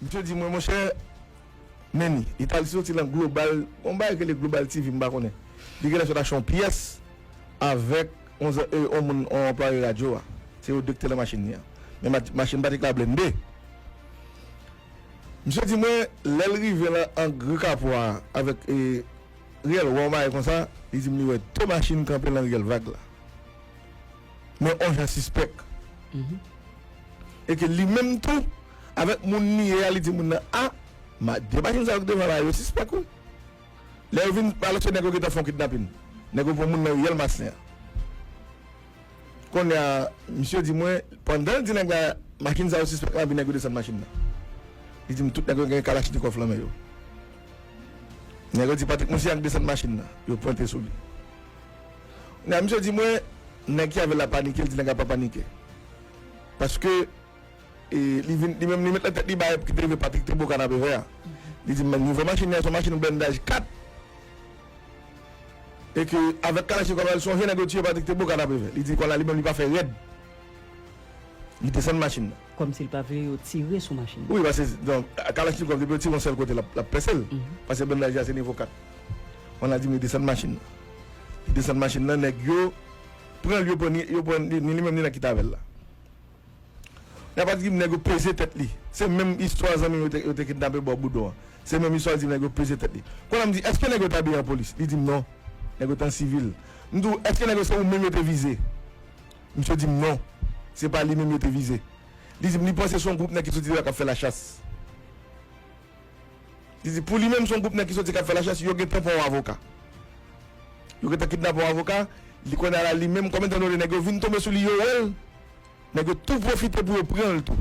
Misye di mwen, monchè Manny, li t al soti nan Global, yon bagay ki rele Global TV, m pa konnen. Li genlè sot achte yon pyès avèk yon zan, yon moun, yon anplwaye radyo a. Se yo de ki te nan machin li a. Men machin Patrick la blende. Misye di mwen, lè l rive nan ang ri Kapwa a avèk Riel, wè yon bagay konsa, li di m li wè de machin kanpe nan Riel Vag la. men on jan sispèk. E ke li menm tou, avèk moun li ye a, li di moun nan, A! Ma, de machin sa yo ki devan la a, yo sispèk wi. Lè yo vin, alòs se nèg yo ki te fè yon kidnapin. Nèg yo pran moun nan riyèl Masen an. Kounye a, misye di mwen, pandan l di nèg la, machin sa yo sispèk la, epi nèg yo desann machin nan. Li di m, tout nèg yo gen kalachnikòf lan men yo. Nèg yo di Patrik Monsi a ki desann machin nan. Yo pwente sou li. Nan misye di mwen nèg ki avèl la panike li di nèg la pa panike paske li vin li menm li met nan tèt li bagay ki te rive Patrick te bo kanapevè a li di m nivo machin li a son machin blendaj 4 e ke avèk kalachnikov la li sonje nèg yo tiye Patrick te bo kanapevè li di kòl la li menm li pa fè rèd. Li desann machin nan. Kòmsi l pa vle yo tire sou machin nan. Wi paske non kalachnikov depi yo tire yon sèl kote l ap pèse l. Paske blennday deja se nivo 4. Wan la di m yo desann machin nan. Li desann machin nan nèg yo pran l yo pran ni yo pran ni li menm ni nan ki t avè l la. Li ap di m nèg yo peze tèt li. Se menm istwa zanmi m yo te kidnape bò Boudon an. Se menm istwa l di m nèg yo peze tèt li. Kounya m di èske nèg yo te abiye an polis? Li di m non nèg yo te an sivil. M di w èske nèg yo se ou menm yo te vize? Misye di m non, se pa li menm yo te vize. Li di m li panse se yon gwoup nèg ki soti deyò k ap fè lachas. Li di pou li menm se yon gwoup nèg ki soti k ap fè lachas, yo gentan pran yon avoka. Yo gentan kidnape yon avoka, li konnen ala li menm kòm etan done nèg yo vin tonbe sou li, yo wè l, nèg yo tou pwofite pou yo pran l tou.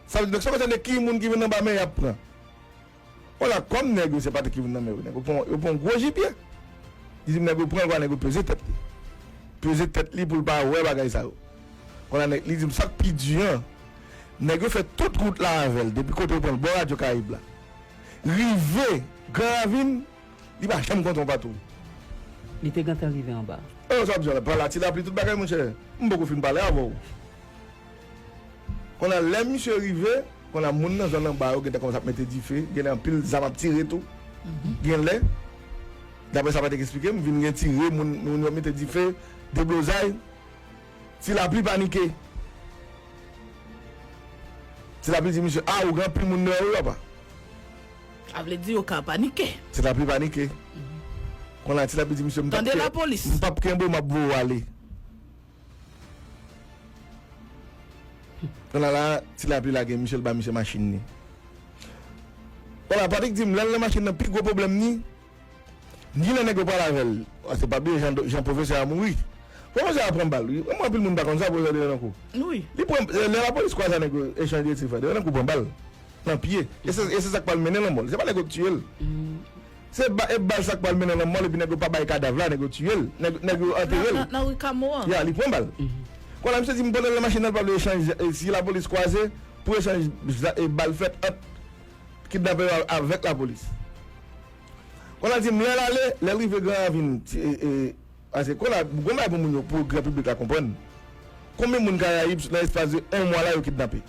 Sa vle di donk san konsène ki moun ki vin anba men y ap pran. Hola kòm nèg yo se pa timoun nan men yo nèg yo pran yo pran yon gwo jipye li di m nèg yo pran l konsa nèg yo peze tèt li peze tèt li pou l pa wè bagay sa yo konsa nèg li di m sa k pi di an nèg yo fè tout wout la avè l depi kote yo pran l bò radyo karayib la rive gran ravin li pa janm kontan yon patwouy. Li te gentan rive anba. Sa w ap di la? Pala ti lapli tout bagay monchè m poko fin pale avè w. Konnya lè misye rive, konnya moun nan zòn anba yo gentan kòmanse ap mete dife, genlè anpil zam ap tire tou. Genlè, daprè sa Patrick eksplike m, vin gen tire, moun moun yo mete dife, deblozay. Ti Lapli panike. Ti Lapli di misye, a ou gen anpil moun dèyè ou apa? Sa vle di yo ka panike. Ti Lapli panike. Konnya Ti Lapli di misye, m pap kenbe ou, m ap voye ou ale. Konnya la ti lapli lage misye l ba misye machin li. Wala Patrick di m lè l nan machin nan pi gwo pwoblèm ni ginlè nèg yo pral avè l a se pa bliye jan pwofesè a mouri. Pwofesè a pran bal wi wè m anpil moun pa konn sa pwofesè te nan kou li pran lè lapolis kwaze a nèg yo echanje tir fè 2 nan kou pran bal nan pye e se sa k pral mennen lanmò l se pa nèg yo k tiye l. Se ba e bal sak pwal mennen nan mòl epi nèg yo pa bay kadav la nèg yo tiyel nèg nèg yo anterel Nan rue Cameau an. ya li pran bal kon la misye di m pandan l nan machin nan l pa vle echanj si lapolis kwaze pou echanj za e bal fèt ant kidnapè yo avèk lapolis kon la di m lè l ale lè l rive gran ravin ti e e pase kon la gon bagay pou moun yo pou gran piblik la konprann konbyen moun karayib nan espas de 1 mwa la yo kidnape.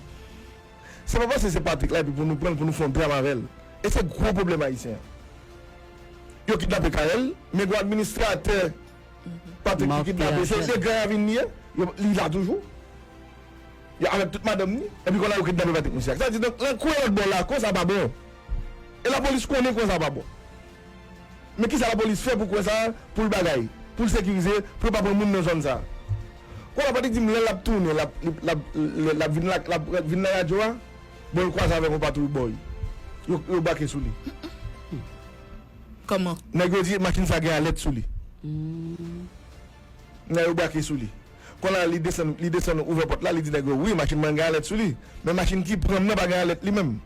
Se pa paske se Patrick la epi pou nou pranl pou nou fon dram avèl e se gwo pwoblèm ayisyen an. Yo kidnape Carel men gon administratè Patrick ki kidnape se de Gran Ravin li ye li la toujou avèk tout madanm ni epi kona yo kidnape Patrick Missac sa vle di donk lan kwen lòt bò la kwen sa pa bon e lapolis konnen kwen sa pa bon. Men kisa lapolis fè pou kwen sa poul bagay poul sekirize pou yo pa pran moun nan zòn sa kounya pati dim lè lap tounen lap lap vin la lap vin nan radyo a bon l kwaze avèk yon patwouy bòy yo yo bake sou li kòman nèg yo di machin sa gen alèt sou li kounya yo bake sou li kounya li desann li desann ouvè pòt la li di nèg yo wi machin mwen gen alèt sou li men machin ki pranm nan pa gen alèt li menm.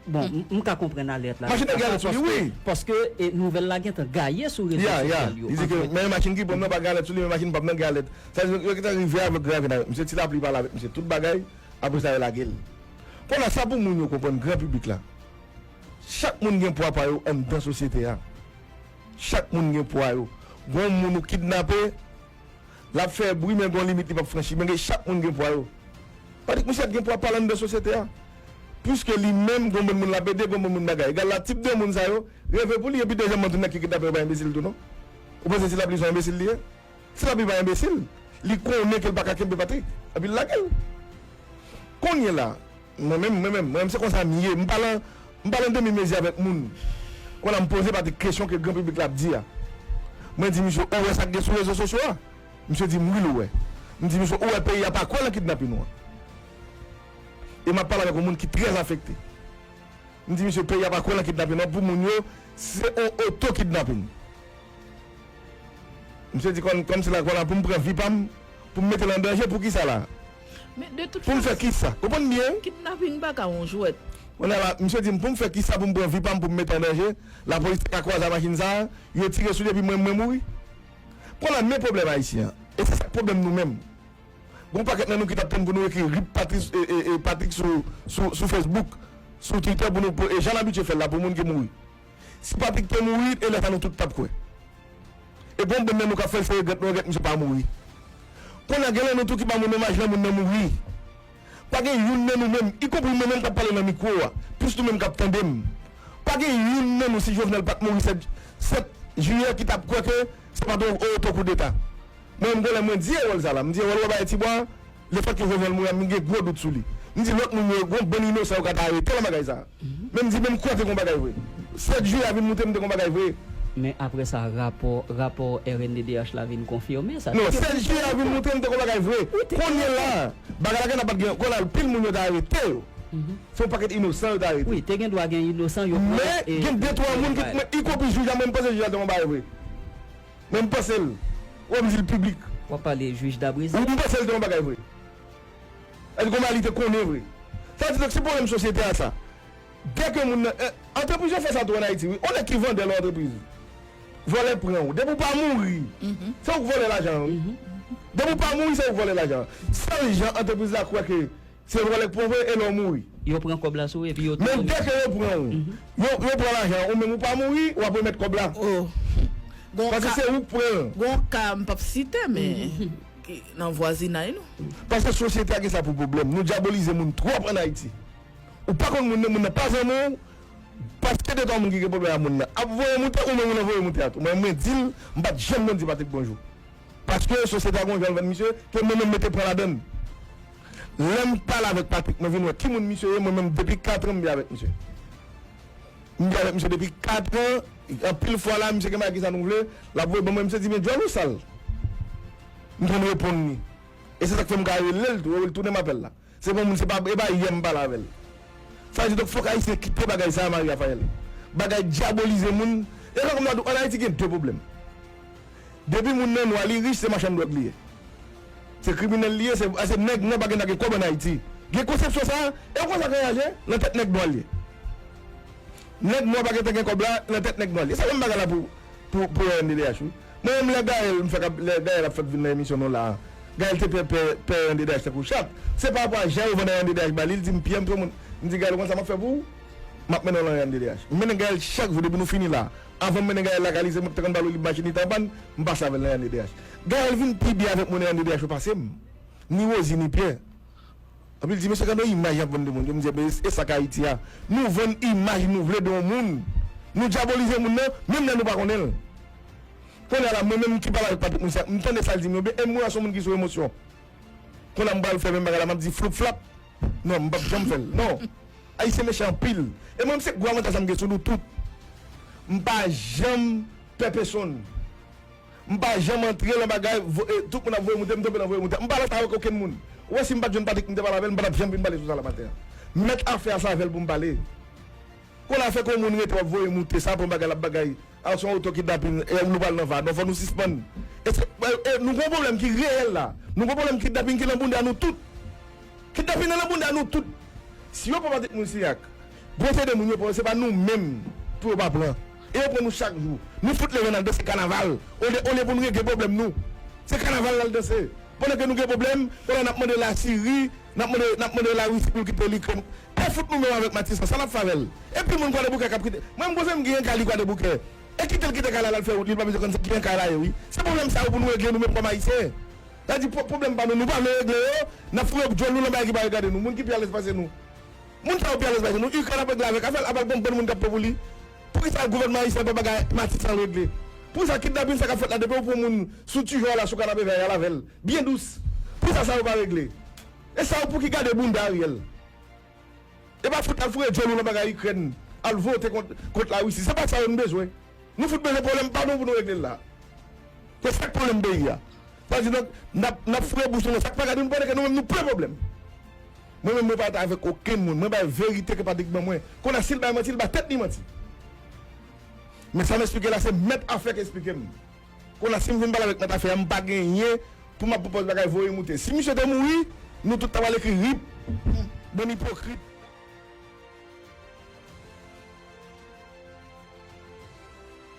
Bon, m ka konprann alèt la. Machin nan gen alèt sou li wi. Paske nouvèl la gentan gaye sou rezo sosyal yo. Ya, ya. Li di ke men machin ki pou m nan pa gen alèt sou li men machin pa m nan gen alèt. Sa vle di yo gentan rive avèk gran avètay. Misye ti lapli pale avèk misye tout bagay, apre sa yo lage l. Konnya sa pou moun yo konprann, gran piblik la, chak moun gen pwa pa yo anndan sosyete a. Chak moun gen pwa yo. Gon moun ou kidnape, Lap fè bri men gon limit li pap franchi men gen chak moun gen pwa yo. Patrick Michel gen pwa pal anndan sosyete a. Puiske li menm gon bon moun lap ede gon bon moun bagay. Egal la tip de moun sa yo reve pou li epi Dejan Mantoun ak ki kidnape yo pa enbesil tou non. Ou panse ti lapli son enbesil li ye? Ti lapli pa enbesil. Li konnen kel paka kenbe Patrick epi l lagel. Konnye la Mwen menm, mwen menm, mwen menm se konsa m ye. M pa lan, m pa lan demi mezi avèk moun. Kon la m poze Patrick kesyon ke gran piblik la ap di a. Mwen di misye, ou wè sa k gen sou rezo sosyo a? Misye di m, wi l wè. M di misye, ou wè peyi a pa kwè lan kidnapin ou an? E m ap pale avèk yon moun ki trè afekte. M di misye, peyi a pa kwè lan kidnapin ou an pou moun yo, se yon oto kidnapin. Misye di kon, kon m se la, kon la pou m pran vi pa m, pou m mete l an danje, pou kisa la? Poum fè kisa? Reponn byen wi. Kidnapping pa ka yon jwèt. Kounye a la, misye di m poum fè kisa poum pran vi pam poum mete an danje, lapolis ta ka kwaze a machin sa, yo tire sou li epi mwen mwen mouri? Kounye a la men pwoblèm ayisyen an, e se sak pwoblèm nou menm. Gon pakèt nan nou ki tap tann pou nou ekri rip Patrick sou Facebook, sou Twitter pou nou, e jan n abitye fèl la pou moun ki mouri. Si Patrick te mouri e lè sa nou tout tap kwè. E gon bon nèg nou kap fèl se regrèt nou regrèt misye pa mouri. Konnya genlè nou tou ki pa moun menm aj lè moun nan mouri. Pa gen youn nan nou menm, y konpri mwen menm kap pale nan mikwo a, plis nou menm kap tandem. Pa gen youn nan nou si Jovenel pat mouri 7 7 Jiyè ki tap kwè ke se pat yon oto koudeta. Mwen menm gon lè mwen di Erol sa la, m di Erol wè bagay ti bwa a, Le fèt ke Jovenel mouri a m gen gwo dout sou li. M di lòt moun yo gon bann inosan yo ka ta arete lan bagay sa a. Men m di men m kwè te gon bagay vre. 7 jiyè a vin moute m te gon bagay vre. Men apre sa rapò, rapò rnddh la vin konfime sa. Non, 7 jiyè a vin moute m te gon bagay vre. Kounye la, bagay la gen nan pat gen, kon anpil moun yo ta arete yo. Se yon pakèt inosan yo ta arete. Wi, te gen dwa gen inosan yo pran e. Men, gen de twa moun ki, y konpri jij la, mwen m panse jij la te gon bagay vre. Men m panse l wè m di l piblik. Wap pale juge Dabrezi? Ou panse l te yon bagay vre? Èske konba li te konnen vre? Sa di donk se pwoblèm sosyete a sa. Dè ke moun nan Antrepriz yo fè sa tou an Ayiti wi. On nèg ki vandè lò antrepriz. Vòlè pran ou. Depi ou pa mouri se ou k vòlè lajan an wi. Depi ou pa mouri se ou k vòlè lajan an. Sèl jan antrepriz la kwè ke. Se vòlè k pwan vre e lè w mouri. Yo pran kòb la sou ou epi yo touye w. Men dè ke yo pran ou, yo pran lajan an, ou menm ou pa mouri, w ap remèt kòb la. O. Gon ka. Paske se ou k pran l. Gon ka, m p ap site men, ki nan vwazinay nou. Paske sosyete a gen sa pou pwoblèm. Nou dyabolize moun twòp an Ayiti. Ou pa konn moun nan, moun nan pa zanmi w, paske de twa moun ki gen pwoblèm a moun nan ap voye w moute, ou menm ou nan voye moute a tou. Mwen di l, m pa t janm konn di Patrik bonjou. Paske sosyete a gon jan l vann misye ke mwen menm mete pwen ladan l. Lè m pale avèk Patrick mwen vin wè ki moun misye ye mwen menm depi katran m bi avèk misye. M bi avèk misye depi katran anpil fwa la misye gen bagay kisa nou vle l ap voye ban mwen misye di men djòl ou sal. M konn reponn li. E se sa k fè m ka rele l tou e l tounen m apèl la. Se bon moun se pa e pa yè m pale avèl sa di donk fòk ayisyen kite bagay sa Marie Raphaëlle bagay dyabolize moun e fòk m ta di w an ayiti gen 2 pwoblèm depi moun nan nwa li rich se machann dwòg li ye se kriminèl li ye se paske nèg nwa pa gen dwa gen kòb an ayiti gen konsepsyon sa e w konn sa kay a je nan tèt nèg nwa l ye nèg nwa pa gen tan gen kòb la nan tèt nèg nwa l ye se menm bagay la pou pou pou rnddh wi. Mwen renmn lè Gaëlle m fè kap lè Gaëlle ap fèk vin nan emisyon nou la Gaëlle te pè pè pè yon DDH tankou chat se pa rapò a jan yo vanndan yon DDH ba li li di m pyè m tro moun m di Gaëlle ou konn sa map fè pou ou map mennen w lan yon DDH m mennen Gaëlle chak jou depi nou fini la avan m mennen Gaëlle lakay li se mwen ki te konn ba l olib machin li te anpann m pase avè l nan yon DDH Gaëlle vin pi byen avèk mwen nan yon DDH yo pase m ni Rosie ni Pierre. Anpil di mesye gade yon imaj yap vann de moun yo mdi enben esak ayiti a nou vann imaj nou vle de yon moun nou dyabolize moun nan menm lè nou pa konnenl konnya la mwen menm ki pale avèk Patrick Moussac mtande sal dim yo byen em wè son moun ki sou emosyon konnya mpral fè menm bagay la map di floup flap non mpap janm fèl non ayisyen mechan anpil e mwen se gwo avantaj sa mgen sou nou tout mpa janm pè pesonn M pa janm antre lan bagay voye tout moun ap voye moute m tonbe lan voye moute m pa alèz avèk okenn moun ou wè si m pat jwenn Patrick m te pale avèl m patap janm vin pale sou sa la maten an m mèt afè a se avèl pou m pale konn afè kon moun rete wap voye moute sa pran bagay lap bagay al son oto kidnapin e nou pral nan va non fò nou sispann e se e nou gon pwoblèm ki reyèl la nou gon pwoblèm kidnapin ki lan bounda nou tout kidnapin nan lan bounda nou tout si yo pran Patrick moun se ak. Bwose de moun yo pran yo se pa nou menm pou yo pa pran e yo pran nou chak jou nou fout leve nal danse kanaval olye olye pou nou regle pwoblèm nou se kanaval nal danse pandan ke nou gen pwoblèm pandan nap mande la siri nap mande nap mande la risi poul kite likrèn e fout nou menm avèk matisan sa nap fè avèl e pil moun kwadeboukè kap kite mwen bwose m genyen kay li kwadeboukè e kitel kite kay la lal fè wout li li pa bezwen konn se kijan kay la ye wi se pwoblèm sa yo pou nou regle nou menm kòm ayisyen sa vle di pwoblèm pa nou nou pa vle regle yo nap foure bdyòl nou lan bagay ki pa regade nou moun ki pi alèz pase nou. Moun sa yo pi alèz pase nou. Ukraine ap regle avèk afèl, ap al pran bann moun kap pè pou li. Poukisa gouvènman ayisyen pa bagay mati san regle? Poukisa kidnapin sa kap fèt la depi ou pran moun sou tu jòl la sou kanape vè a yal avèl byen dous. Poukisa sa yo pa regle? E sa yo pouki gade bounda Ariel. E pa fout al foure djòl ou nan bagay Ukraine, al vote kont kont la Russie. Se pa sa yo nou bezwen. Nou fout bezwen pwoblèm pa nou pou nou regle l la. Se sak pwoblèm peyi a. Sa di donk nap nap foure bouch nou nan sak pa gade nou pandan ke nou menm nou plen pwoblèm. Mwen menm mwen pa rete avèk okenn moun. Mwen bay verite ke Patrick ban mwen. Kounye a si l bay manti, li bay tèt li manti. Men sa m esplike la se mèt afè ki esplike m. Kounye a si m vin pale avèk mèt afè a m pa genyen pou m ap pwopòz bagay voye moute. Si misye te mouri, nou tout ta pral ekri rip bann ipokrit.